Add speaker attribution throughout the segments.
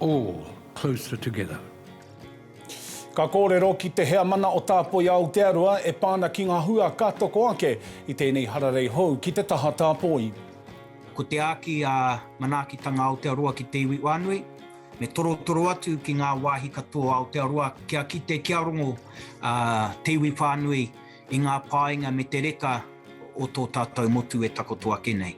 Speaker 1: all closer together.
Speaker 2: Ka kōrero ki te heamana o Tāpoi Aotearoa e pā ana ki ngā hua ka toko ake i tēnei hararei hou ki te taha tāpoi. Ko te
Speaker 3: āki a Manaakitanga Aotearoa ki te iwi whānui, me torotoro atu ki ngā wāhi katoa o Aotearoa kia kite, kia rongo te iwi whānui I ngā painga me te reka o tō tātou motu e takoto ake nei.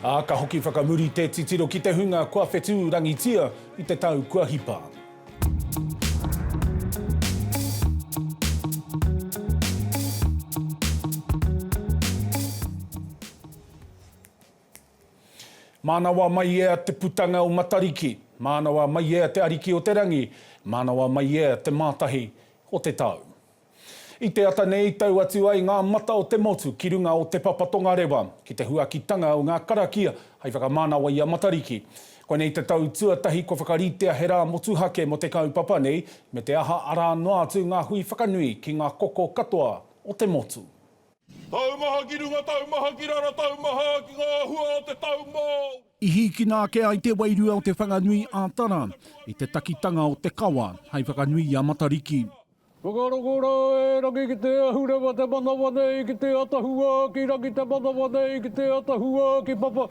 Speaker 3: Ā,
Speaker 2: ka hoki whakamuri te titiro ki te hunga kua whetū rangitia i te tau kua hipa. Mānawa mai ea te putanga o Matariki, mānawa mai ea te Ariki o te Rangi, mānawa mai ea te mātahi o te tau. I te ata nei, tau atu ai ngā mata o te motu ki runga o Te Papa Tongarewa, ki te huakitanga o ngā karakia hai whakamanawa i a Matariki. Koinei te tau tuatahi kua whakaritea he rā motuhake mō te kaupapa nei, me te aha arā noa atu ngā hui whakanui ki ngā koko katoa o te motu. Taumaha
Speaker 4: ki runga, taumaha ki raro, taumaha ki ngā hua o te tau Māori. I hīkina
Speaker 2: ake ai te wairua o Te Whanganui ā-Tara i te takitanga o te kawa hai whakanui i a Matariki. Whakaroko ra
Speaker 1: e rangi ki te ahurewa te manawa nei ki te atahua ki rangi te manawa nei ki te atahua ki papa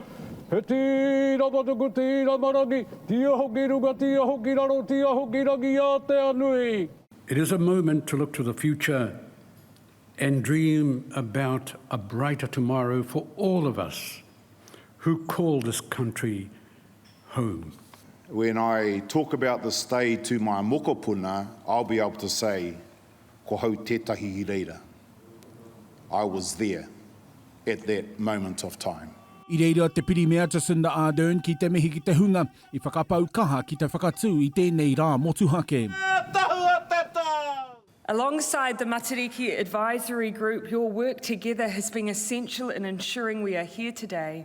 Speaker 1: He tira matuku tira marangi ti aho ki runga ti aho ki raro ti aho ki rangi a te anui. It is a moment to look to the future and dream about a brighter tomorrow for all of us who call this country home. When
Speaker 4: I talk about this day to my mokopuna, I'll be able to say, ko hau tetahi i reira, I was there at that moment of time. I reira a te
Speaker 2: Pirimia Jacinda Ardern ki te mihi ki te hunga i whakapau kaha ki te whakatū i tēnei rā motuhake. He tahua te tau!
Speaker 5: Alongside the Matariki Advisory Group, your work together has been essential in ensuring we are here today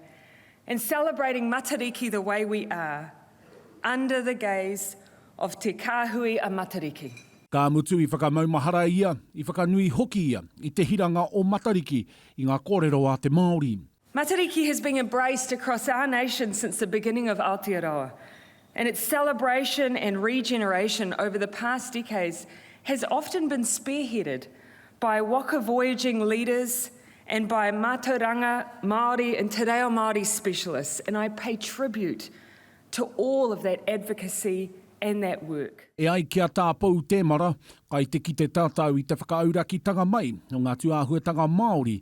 Speaker 5: and celebrating Matariki the way we are, under the gaze of Te Kāhui a Matariki. Ka mutu i
Speaker 2: whakamaumahara ia, i whakanui hoki ia i te hiranga o Matariki i ngā kōrero a te Māori. Matariki has been
Speaker 5: embraced across our nation since the beginning of Aotearoa, and its celebration and regeneration over the past decades has often been spearheaded by waka voyaging leaders and by mātauranga Māori and te reo Māori specialists, and I pay tribute to all of that advocacy and that work. E ai ki a Tā
Speaker 2: Pou Temara, kai te kite tātou i te whakaauraki tanga mai o ngā tūāhuatanga Māori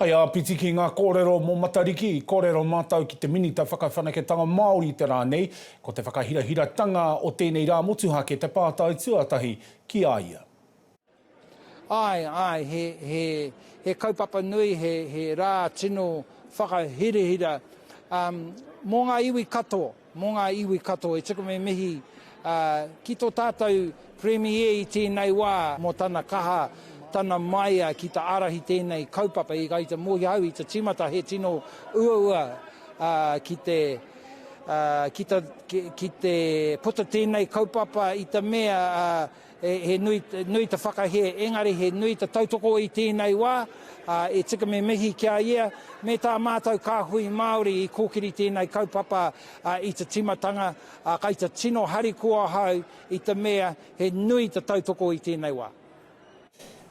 Speaker 2: Hei āpiti ki ngā kōrero mō Matariki, i kōrero mātou ki te Minita Whakawhanaketanga Māori i te rā nei, ko te whakahirahiratanga o tēnei rā motuhake te pātai tuatahi ki a ia. Āe,
Speaker 6: āe, he, he, he kaupapa nui, he, he rā tino whakahirahira, um, mō ngā iwi katoa. Mō ngā iwi katoa, i tuku me mihi ki tō tātou Premier i tēnei wā mō tana kaha, tana maia ki ta ārahi tēnei kaupapa i gaita mōhio au i te tīmata he tino uaua ki te ki te puta tēnei kaupapa i te mea He nui te whakahē, engari he nui te tautoko i tēnei wā, e tika me mihi ki a ia, me tā mātou kāhui Māori i kōkiri tēnei kaupapa i te tīmatanga, kai te tino harikoa ahau i te mea he nui te tautoko i tēnei wā.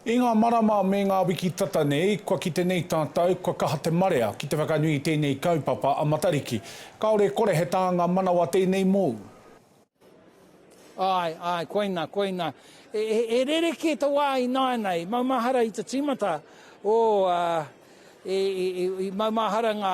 Speaker 6: I
Speaker 2: ngā marama me ngā wiki tata nei, kua kite nei tātou, kua kaha te marea ki te whakanui i tēnei kaupapa a Matariki. Kāore e kore he tānga manawa tēnei mōu. Āe,
Speaker 6: āe, koina, koina. E, e, e rerekē te wā i nāianei, maumahara i te tīmata o... Uh, e, e, e, e maumahara ngā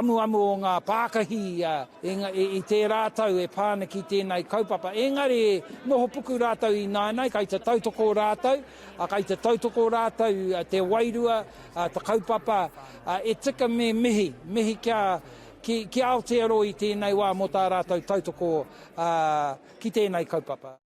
Speaker 6: amuamu o ngā pākahi a, e, e, i tērā tau e pāna ki tēnei kaupapa. Engari e noho puku rātou i nāianei, kai te tautoko rātou, a, kai te tautoko rātou a, te wairua, a, te kaupapa, a, e tika me mihi, mihi kia, Ki, ki Aotearoa i tēnei wā mō tā rātou tautoko ā, ki tēnei kaupapa.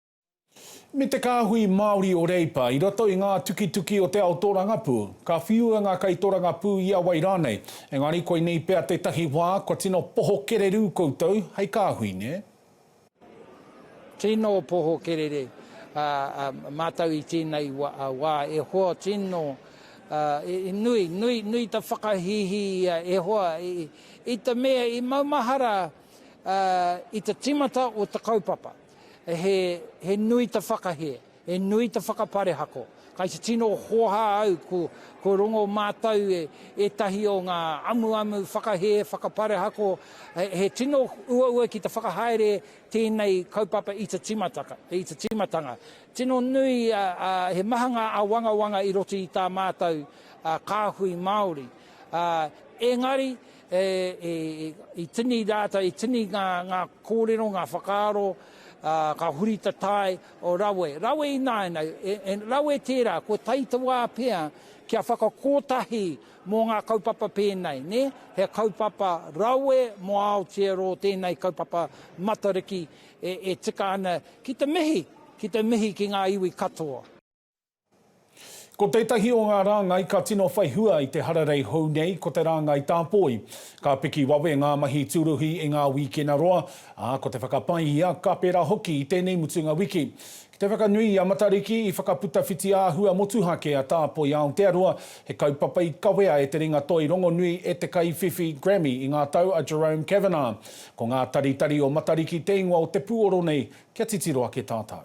Speaker 6: Me
Speaker 2: te kāhui Māori o Reipa, i roto i ngā tukituki o te ao tōrangapū. Ka whiua ngā kaitōrangapū i a wai rānei. Engari koinei pea tētahi wā, kua tino poho kererū koutou hei kāhui, nē? Tino
Speaker 6: poho kerere matou i tenei wa e hoa tino nui nui nui ta whakahihi ia e hoa i te mea i maumahara i te timata o te kaupapa he nui ta whakahie. He nui te whakaparehako. Kai te tino hoha au ko rongo mātou e ētahi o ngā amuamu whakahē whakaparehako, he tino uaua ki te whakahaere tēnei kaupapa i te tīmatanga. Tino nui, he maha ngā āwangawanga i roto i tā mātou kāhui Māori. Engari, i tini rātou, i tini ngā kōrero, ngā whakaaro, ka huri te tae, O rawe, rawe ināianei, e, rawe tērā, kua tae te wā pea kia whakakotahi mō ngā kaupapa pēnei, nē, he kaupapa rawe mō Aotearoa tēnei kaupapa Matariki e, e tika ana ki te mihi, ki te mihi ki ngā iwi katoa.
Speaker 2: Ko tētahi o ngā rāngai ka tino whai hua i te hararei hou nei ko te rāngai tāpoi. Ka piki wawe ngā mahi tūruhi i ngā wīkena roa, ā, ko te whakapai ia ka pērā hoki i tēnei mutunga wiki. Ki te whakanui i a Matariki, i whakaputa whiti āhua motuhake a Tāpoi Aotearoa, he kaupapa i kawea e te ringatoi rongonui e te kaiwhiwhi Grammy i ngā tau a Jerome Kavanagh. Ko ngā taritari o Matariki te ingoa o te pūoro nei kia titiro ake tātou.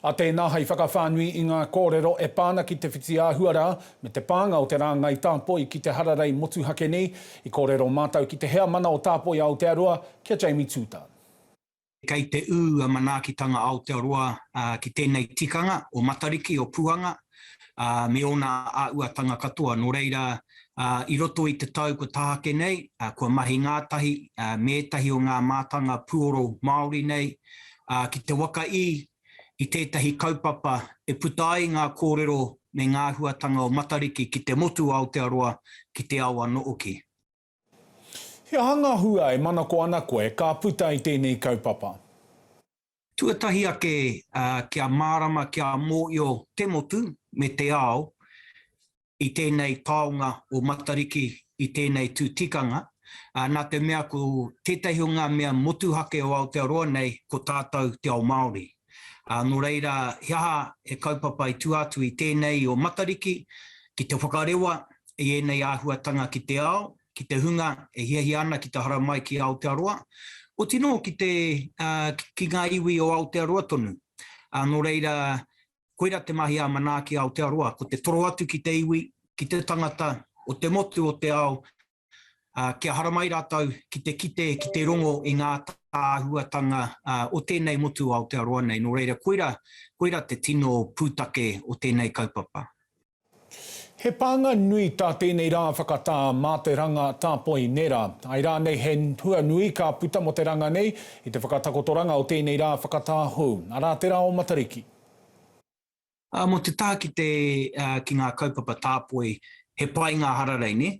Speaker 7: A
Speaker 2: tēnā hai whakawhānui i ngā kōrero e pā ana ki te whitiāhua rā me te pānga o te rāngai tāpoi ki te hararei motuhake nei, i kōrero mātau ki te Heamana o Tāpoi Aotearoa, ki a Jamie Tutan. Kei
Speaker 3: te ū a Manaakitanga Aotearoa ki tēnei tikanga o Matariki, o Puanga, ā, me ōna āhuatanga katoa. Nō reira, ā, i roto i te tau kua tāke nei, ā, kua mahi ngātahi, ā, me ētahi o ngā mātanga puoro Māori nei, ā, ki te waka i, i tētahi kaupapa e puta ai ngā kōrero me ngā āhuatanga o Matariki ki te motu o Aotearoa, ki te ao anō hoki.
Speaker 2: He aha ngā hua e manako ana koe ka puta i tēnei kaupapa?
Speaker 3: Tuatahi ake, kia mārama, kia mōhio te motu me te ao i tēnei taonga o Matariki, i tēnei tū tikanga, nā te mea ko tētahi o ngā mea motuhake o Aotearoa nei ko tātou te ao Māori. Ā, nō reira, he aha he kaupapa i tua atu i tēnei i ō Matariki ki te whakarewa i ēnei āhuatanga ki te ao, ki te hunga e hiahia ana ki te haramai ki Aotearoa, oti nō ki te, ki ngā iwi o Aotearoa tonu? Ā, nō reira, koira te mahi ā Manaaki Aotearoa, ko te toro atu ki te iwi, ki te tangata o te motu o te ao, Kia haramai rātou ki te kite, ki te rongo i ngā āhuatanga o tēnei motu o Aotearoa nei, nō reira koira, koira te tino pūtake o tēnei kaupapa.
Speaker 2: He pānga nui tā tēnei rā whakatā mā te ranga tāpoi nera. Ai rānei he hua nui ka puta mō te ranga nei i te whakatakotoranga o tēnei rā whakatā hou, arā te rā o Matariki.
Speaker 3: Mo te taha ki te ki nga kaupapa tāpoi he pai nga hararei ne?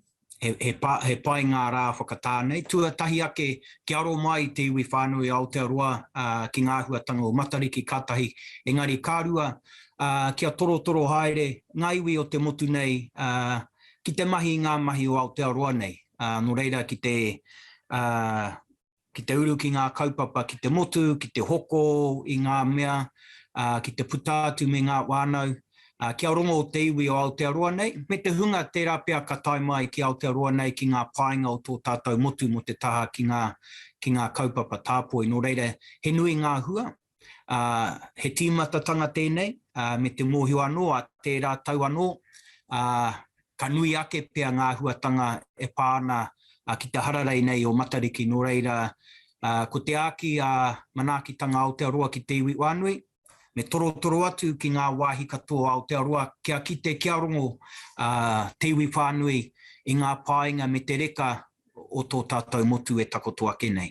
Speaker 3: He pai nga ra whakatā nei tuatahi ake kia aro mai i te iwi whanui Aotearoa ki nga ahuatanga o Matariki ka tahi engari ka rua kia torotoro haere nga iwi o te motu nei ki te mahi i nga mahi o Aotearoa nei no reira ki te Ki te uru ki ngā kaupapa ki te motu, ki te hoko i ngā mea, ā, ki te puta atu me ngā whānau, ā, kia rongo te iwi o Aotearoa nei, me te hunga tērā pea ka tae mai ki Aotearoa nei ki ngā painga o tō tātou motu mō te taha ki ngā, ki ngā kaupapa tāpoi. Nō reira, he nui ngā hua, Ā, he tīmatatanga tēnei, ā, me te mōhio anō a tērā tau anō, ā, ka nui ake pea ngā āhuatanga e pā ana ki te hararei nei o Matariki, nō reira, ā, ko te āki ā manaakitanga Aotearoa ki te iwi whānui, me torotoro atu ki ngā wāhi katoa o Aotearoa kia kite, kia rongo ā, te iwi whānui i ngā pāinga me te reka o tō tātou motu e takoto ake nei.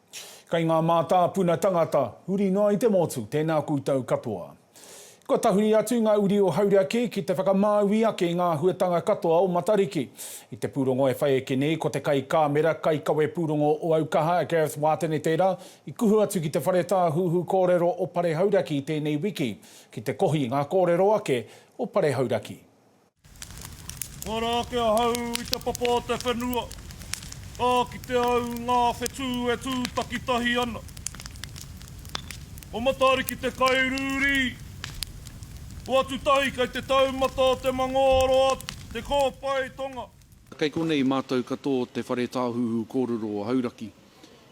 Speaker 2: Kei ngā mātāpuna tangata, huri noa i te motu, tēnā koutou katoa. Kua tahuri atu ngā uri o Hauraki ki te whakamāui ake i ngā huatanga katoa o Matariki. I te pūrongo e whai ake nei, ko te kaikāmera, kaikawe pūrongo o Aukaha, Gareth Watene tērā, i kuhu atu ki te Whare Tāhuhu Kōrero o Pare Hauraki tēnei wiki, ki te kohi ngā kōrero ake o Pare Hauraki.
Speaker 8: Ara ake ahau i te papa o te whenua, ka kite au i ngā whetū e tū takitahi ana. Ko Matariki te kairūrī. Hoatu tahi kei te taumata o te mangōroa te kōpae tonga. Kei konei
Speaker 9: mātou katō te Whare Tāhuhu Kōrero o Hauraki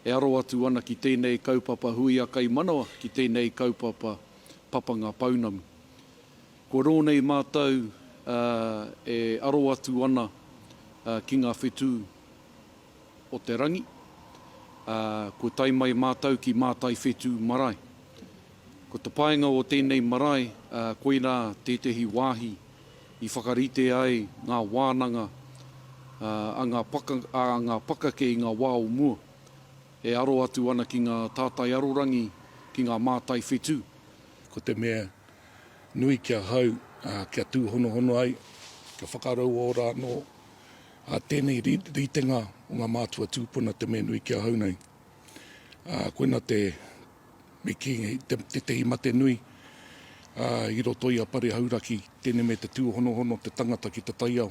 Speaker 9: e aro atu ana ki tēnei kaupapa huia kai manawa ki tēnei kaupapa papanga pounamu. Kua rō nei mātou e aro atu ana ki ngā whetū o te rangi. Kua tae mai mātou ki Mātai Whetū Marae. Ko te painga o tēnei marae, koirā tētehi wāhi i whakarite ai ngā wānanga a ngā pakake i ngā wā o mua, e aro atu ana ki ngā tātai arorangi, ki ngā mātai whetū. Ko te
Speaker 10: mea nui ki ahau kia tūhonohono ai, kia whakarauora anō tēnei ritenga o ngā mātua tūpuna te mea nui ki ahau nei. Koina te me kī, tētehi mate nui i roto i a Pare Hauraki, tēnei me te tūhonohono te tangata ki te taiao.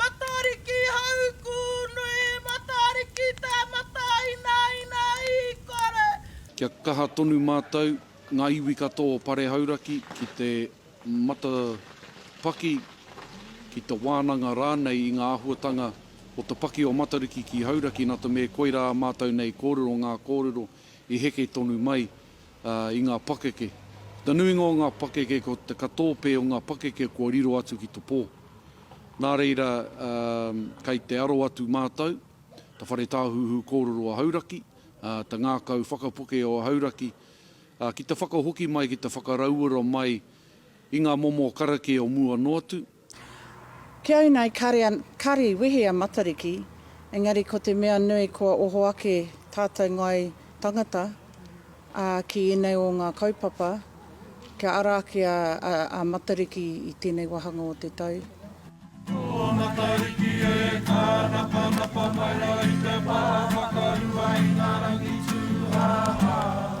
Speaker 9: Matariki hauku nui Matariki te matainaina i kore. Kia kaha tonu mātou, ngā iwi katoa o Pare Hauraki ki te matapaki, ki te wānanga rānei i ngā āhuatanga o te paki o Matariki ki Hauraki, nā te mea koirā mātou nei kōrero ngā kōrero. i heke tonu mai i ngā pakeke. Te nuinga o ngā pakeke ko te katōpē o ngā pakeke kua riro atu ki te pō. Nā reira, kei te aro atu mātou, te Whare Tāhuhu Kōrero o Hauraki, te ngākau whakapuke o Hauraki, ki te whakahoki mai, ki te whakarauora mai i ngā momo karakia o mua noa atu,
Speaker 11: Kiau nei kare an, kare i wehe a Matariki, engari ko te mea nui kua oho ake tatou ngai tangata, a, ki enei o nga kaupapa, kia ara ake a, a, a Matariki i tenei wahanga o te tau. Ko
Speaker 8: Matariki e kānapanapa mai rā i te pā whakarua i ngā rangi tūhāhā.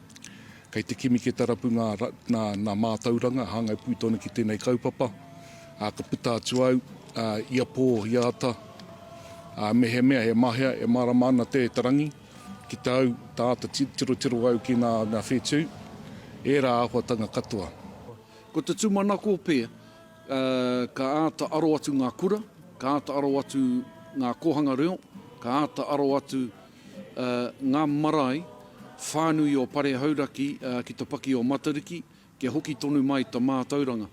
Speaker 10: Kei te kimi ke tarapu ngā nā mātauranga hāngai pū tonu ki tēnei kaupapa. Ā, ka puta atu au ā, ia pō, ia ata, ā, mehemea he mahea e mārama ana te te rangi ki te au, tā āta tirotiro au ki ngā ngā whetū, ērā āhuatanga katoa. Ko te
Speaker 9: tūmanako pea, ā, ka āta aro atu ngā kura, ka āta aro atu ngā kōhanga reo, ka āta aro atu. ngā marae whānui o Pare Hauraki ki te paki o Matariki kia hoki tonu mai ta mātauranga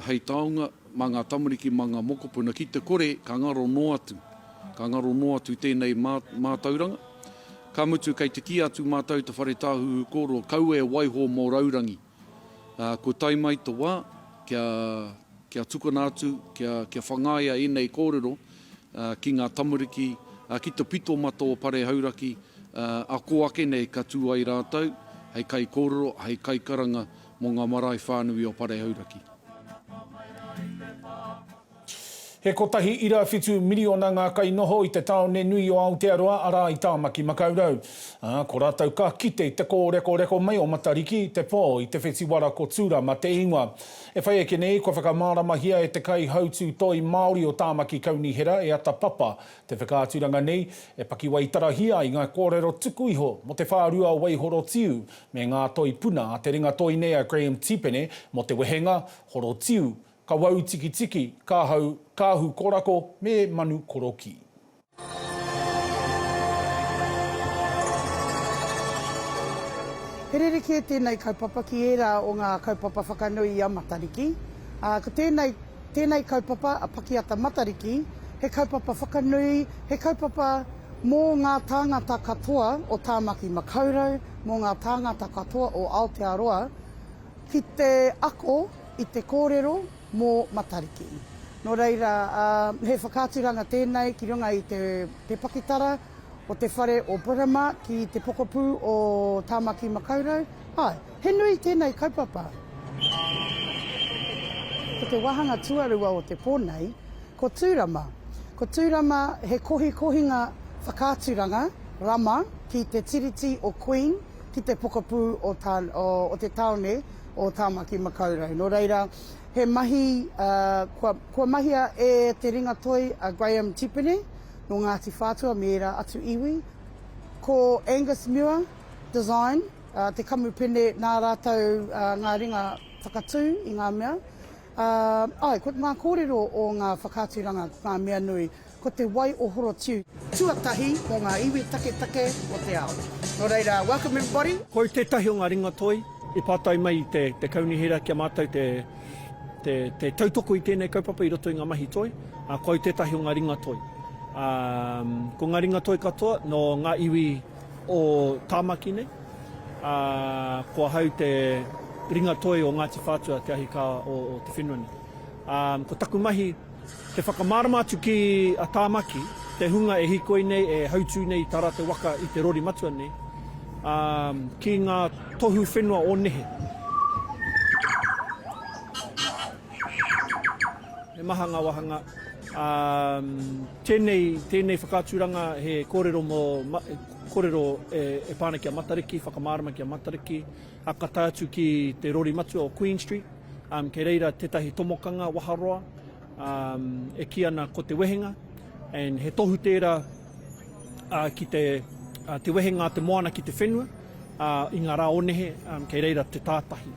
Speaker 9: hei taonga ma ngā tamariki ma ngā mokopuna ki te kore ka ngaro noa atu ka ngaro noa atu tēnei mātauranga ka mutu kei te kī atu mātou te whare tāhuhu kōrua kau e waiho mō raurangi. Ā, kua tae mai te wā kia, kia tukuna atu, kia, kia whangaia ēnei kōrero, ā, ki ngā tamariki, ā, ki te pito ma tō pare hauraki, ā, ā kō ake nei ka tū ai rātou hei kaikōrero, hei kaikaranga mō ngā marae whānui o pare hauraki.
Speaker 2: He kotahi ira whitu miriona ngā kai noho i te tāone nui o Aotearoa, arā, i Tāmaki Makaurau. Ā, ko rātou ka kite i te kōrekoreko mai o Matariki, Te Pō, i te whetiwara ko Tūrama te ingoa. E whai ake nei, kua whakamāramahia e te kaihautū toi Māori o Tāmaki Kaunihera, e Ata Papa, te whakaaturanga nei, e pakiwaitarahia ai ngā kōrero tuku iho mō te whārua o Waihorotiu me ngā toi puna a te ringatoi nei a Graham Tipene mō te wehenga, horotiu, Ka wau tikitiki, ka hau, ka ahu korako me manu korokī.
Speaker 11: He rerekē tēnei kaupapa ki ērā o ngā kaupapa whakanui i a Matariki, ā, ko tēnei, tēnei kaupapa a Pakiata Matariki, he kaupapa whakanui, he kaupapa mō ngā tāngata katoa o Tāmaki Makaurau, mō ngā tāngata katoa o Aotearoa, ki te ako, i te kōrero mō Matariki. Nō reira, he whakaaturanga tēnei ki runga i te pakitara o te whare o Britomart ki te pokapū o Tāmaki Makaurau. Āe, he nui tēnei kaupapa. Ko te wāhanga tuarua o te pō nei, ko Tūrama. Ko Tūrama he kohikohinga whakaaturanga rama ki te Tiriti o Queen, ki te pokapū o te tāone o Tāmaki Makaurau. Nō reira, he mahi kua mahia e te ringatoi a Graham Tipene nō Ngāti Whātua me ērā atu iwi. Ko Angus Muir Design te kamupene nā rātou ngā ringa whakatū i ngā mea. Āe, ko ngā kōrero o ngā whakaaturanga ko ngā mea nui. Ko te wai o Horotiu. Tuatahi o ngā iwi taketake o te ao. Nō reira, welcome everybody. Ko au tētahi o ngā
Speaker 1: ringatoi i pātai mai i te Kaunihera ki a mātou te tautoko i tēnei kaupapa i roto i ngā mahi toi, ā, ko au tētahi o ngā ringatoi. Ā, ko ngā ringatoi katoa nō ngā iwi o Tāmaki nei, ā, ko ahau te ringatoi o Ngāti Whātua, te ahikā o te whenua nei. Ā, ko taku mahi. Te whakamārama atu ki a Tāmaki, te hunga e hikoi nei, e hautū nei i tā rātou waka i te rori matua nei, ā, ki ngā tohu whenua o nehe. He maha ngā wāhanga, ā, tēnei, tēnei whakaaturanga he kōrero mō, kōrero e, e pā ana ki a Matariki, whakamārama ki a Matariki. Hakata atu ki te rori matua o Queen Street, kei reira tetahi tomokanga waharoa e ki ana ko Te Wehenga, and he tohu tera ki te Te Wehenga a te Moana ki te whenua, i nga ra onehe kei reira te tatahi.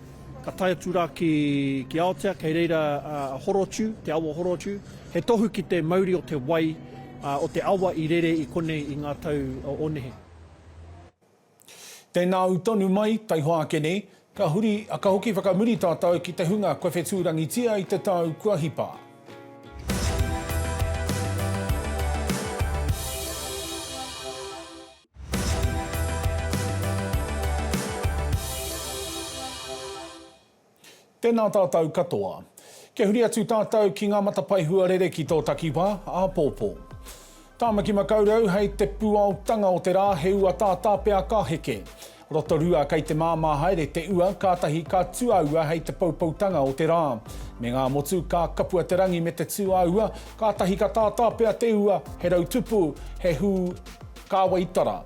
Speaker 1: Ka tae atu ra ki Aotea kei reira a Horotiu, te awa o Horotiu, he tohu ki te mauri o te wai o te awa i rere i konei i nga tau onehe.
Speaker 2: Tēnā au tonu mai, taihoa ake nei, ka huri, ka hoki whakamuri tātou ki te hunga kua whetūrangitia i te tau kua hipa. Tēnā tātou katoa. Kia huri atu tātou ki ngā matapae huarere ki tō takiwā, āpōpō. Tāmaki Makaurau hei te puaotanga o te rā he ua tātāpea ka heke. Rotorua kei te māmā haere te ua kātahi ka tu a ua hei te poupoutanga o te rā. Me ngā motu ka kapua te rangi me te tū a ua kātahi ka tātāpea te ua he rautupu, he hū kāwaitara.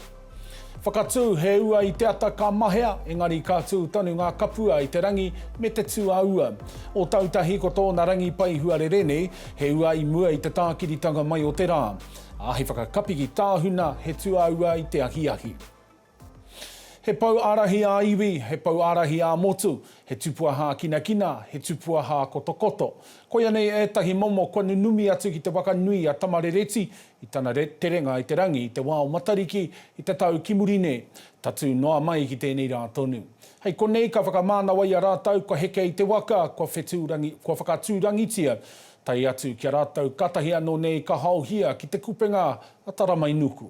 Speaker 2: Whakatū, He ua i te ata ka mahea, engari ka tū tonu ngā kapua i te rangi me te tū a ua. Ōtautahi ko tōna rangi pai huarere nei, he ua i mua i te tākiritanga mai o te rā. Ā, he whakakapiki tāhuna, he tū a ua i te ahiahi. He pou ārahi ā-iwi, he pou ārahi ā-motu, he tupua hākinakina, he tupua hākotokoto. Koianei ētahi momo kua nunumi atu ki te waka nui a Tamarereti, I tana terenga i te rangi i te wā o Matariki i te tau ki muri nei, tatū noa mai ki tēnei rā tonu. Hei konei ka whakamānawaia rātou kua heke i te waka, kua whetū rangi, kua whakatū rangitia, tae atu ki a rātou kātahi anō nei ka haohia ki te kupenga a Taramainuku.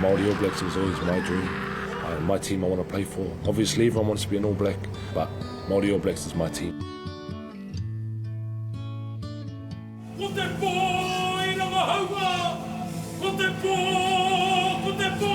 Speaker 12: Māori All Blacks was always my dream, my team I want to play for, obviously everyone wants to be an All Black, but Māori All Blacks is my team.
Speaker 8: Ko te pō i rangahaua, ko te pō, ko te pō.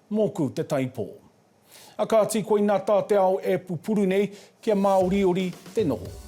Speaker 2: Mōku te taipō. A kāti koina tā te ao e pupuru nei, kia māoriori te noho.